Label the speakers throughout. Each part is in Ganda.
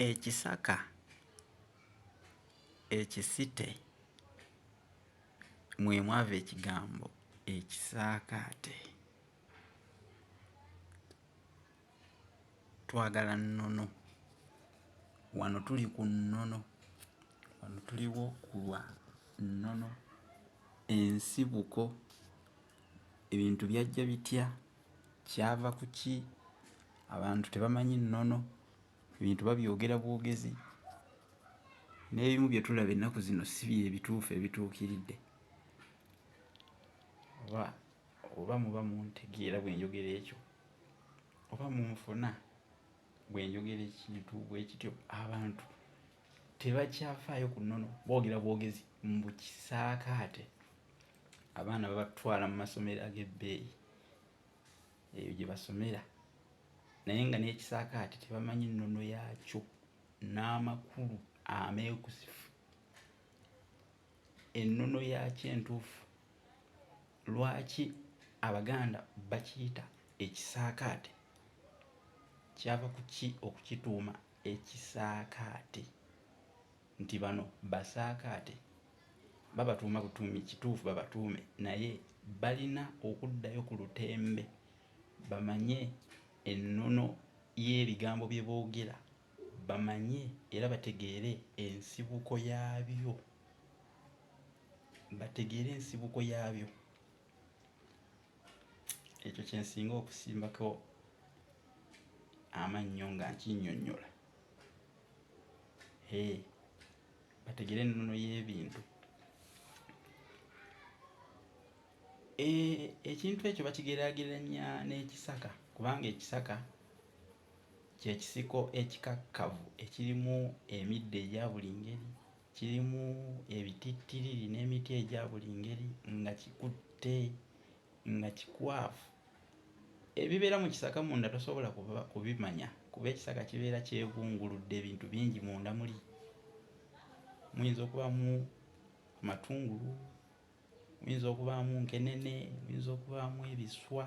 Speaker 1: Ekisaka ekisite mwe mwava ekigambo ekisaakaate. Twagala nnono. Wano tuli ku nnono. Wano tuliwo ku lwa nnono, ensibuko. Ebintu byajja bitya? Kyava kuki abantu tebamanyi nnono, ebintu babyogera bwogezi, n'ebimu bye tulaba ennaku zino si bye bituufu ebituukiridde. Oba oba muba muntegeera bwe njogera ekyo, oba munfuna bwe njogera ekintu bwe kityo, abantu tebakyafaayo ku nnono, boogera bwogezi mbu kisaakaate. Abaana babatwala mu masomero ag'ebbeeyi. eyo gye basomera naye nga n'ekisaakaate tebamanyi nnono yaakyo n'amakulu ameekusifu ennono yaakyo entuufu lwaki abaganda bakiyita ekisaakaate kyava ku ki okukituuma ekisaakaate Nti bano basaakaate, babatuuma butuumi kituufu babatuume naye balina okuddayo ku lutembe bamanye ennono y'ebigambo bye boogera, bamanye era bategeere ensibuko yaabyo, bategeere ensibuko yaabyo. Ekyo kye nsinga okusimbako amannyo nga nkinnyonnyola. eh, bategere ennono y'ebintu eh, ekintu ekyo bakigeraageranya n'ekisaka kubanga ekisaka kyekisiko ekikakkavu ekirimu emiddo egya buli ngeri kirimu ebitittiriri n'emiti egya buli ngeri nga kikutte nga kikwafu ebibeera mu kisaka munda tosobola kubimanya kuba ekisaka kibeera kyebunguludde ebintu bingi munda muli muyinza okubamu amatungulu muyinza okubaamu nkenene muyinza okubaamu ebiswa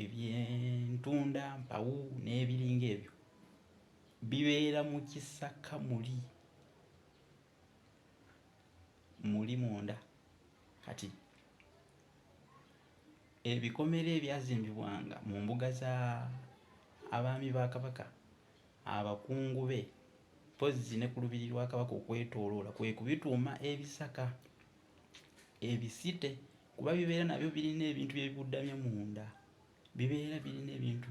Speaker 1: ebyentunda mpawu n'ebiringa ebyo bibeera mu kisaka muli muli munda kati ebikomera ebyazimbibwanga mu mbuga za abaami ba kabaka abakungu be mpozzi ne ku lubiri lwa kabaka okwetooloola kwe kubituuma ebisaka ebisite kuba bibeera nabyo birina ebintu byebibuddamya munda bibeera birina ebintu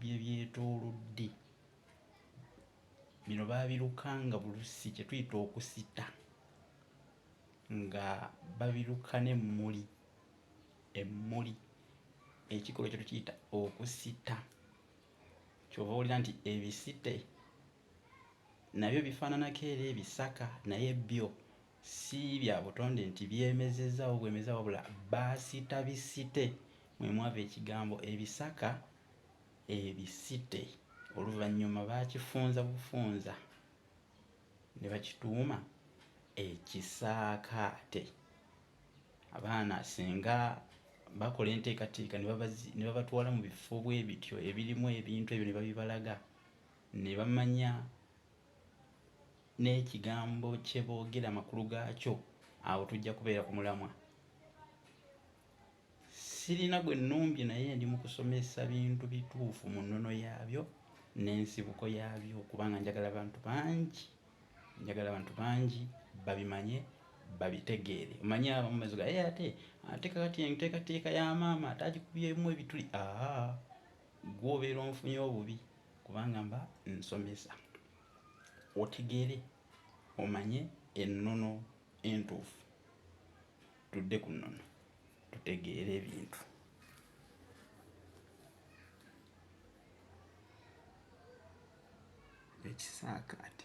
Speaker 1: byebyetoolodde bino baabirukanga bulusi kye tuyita okusita nga babiruka n'emmuli emmuli ekikolwa kye tukiyita okusita kyova owulira nti ebisite nabyo bifaananako era ebisaka naye byo si bya butonde nti byemezezaawo bwemeza wabula baasita bisite mwe mwava ekigambo ebisaka Ebisite oluvannyuma baakifunza bufunza ne bakituuma Ekisaakaate. Abaana singa bakola enteekateeka ne babatwala mu bifo bwe bityo ebirimu ebintu ebyo ne babibalaga ne bamanya n'ekigambo kye boogera amakulu gaakyo, awo tujja kubeera ku mulamwa. Sirina gwe nnumbye naye ndi mu kusomesa bintu bituufu mu nnono yaabyo n'ensibuko yaabyo kubanga njagala bantu bangi njagala abantu bangi babimanye babitegeere omanyi abamu baziga ye ate ate kakati enteekateeka ya maama ate agikubyemu ebituli aa gwobeera onfunye obubi kubanga mba nsomesa otegeere omanye ennono entuufu Tudde ku nnono tutegeere ebintu. Ekisaakaate.